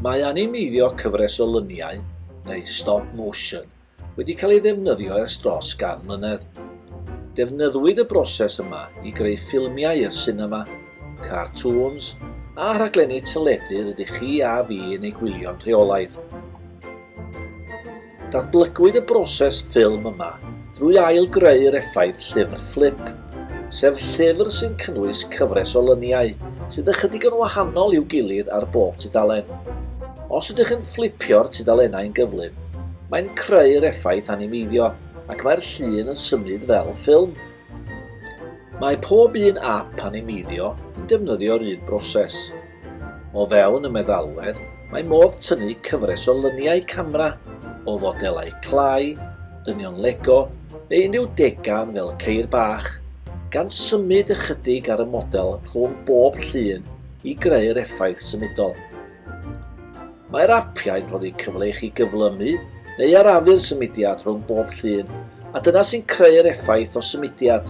Mae animeiddio cyfres o luniau, neu stop motion, wedi cael ei ddefnyddio ers dros gan mlynedd. Defnyddwyd y broses yma i greu ffilmiau i'r sinema, cartŵns, a rhaglenni teledu rydych chi a fi yn eu gwylio'n rheolaidd. Datblygwyd y broses ffilm yma drwy ail-greu'r effaith llyfr fflip, sef llyfr sy'n cynnwys cyfres o lyniau sydd ychydig yn wahanol i'w gilydd ar bob tudalen. Os ydych chi'n fflipio'r tudalennau'n gyflym, mae'n creu'r effaith animeiddio ac mae'r llun yn symud fel ffilm. Mae pob un ap animeiddio yn defnyddio'r un broses. O fewn y meddalwedd, mae modd tynnu cyfres o lyniau camera o fodelau clai, dynion Lego neu unrhyw degan fel ceir bach, gan symud ychydig ar y model rhwng bob llun i greu'r effaith symudol. Mae'r apiau'n rhoddi cyfle i chi gyflymu neu arafu'r symudiad rhwng bob llun, a dyna sy'n creu'r effaith o symudiad.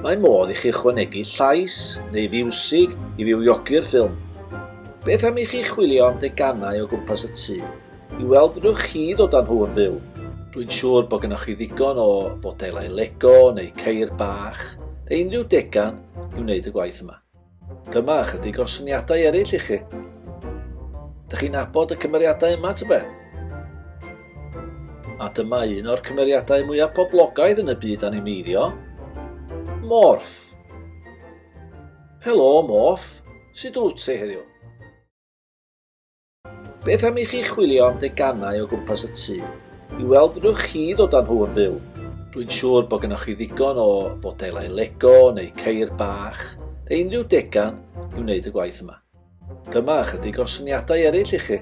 Mae modd i chi ychwanegu llais neu fiwsig i fywiogi'r ffilm. Beth am i chi chwilio am deganau o gwmpas y tŷ i weld fedrwch chi ddod â nhw yn fyw? Dwi'n siŵr bod gennych chi ddigon o fodelau Lego neu ceir bach neu unrhyw degan i wneud y gwaith yma. Dyma ychydig o syniadau eraill i chi. Dych chi'n abod y cymeriadau yma, tybe? A dyma un o'r cymeriadau mwyaf poblogaidd yn y byd animeiddio, Morph. Helo, Morph. Sut wyt ti heddiw? Beth am i chi chwilio am deganau o gwmpas y tŷ i weld fedrwch chi ddod â nhw yn fyw? Dwi'n siŵr bod gennych chi ddigon o fodelau Lego neu ceir bach neu unrhyw degan i wneud y gwaith yma. Dyma ychydig o syniadau eraill i chi.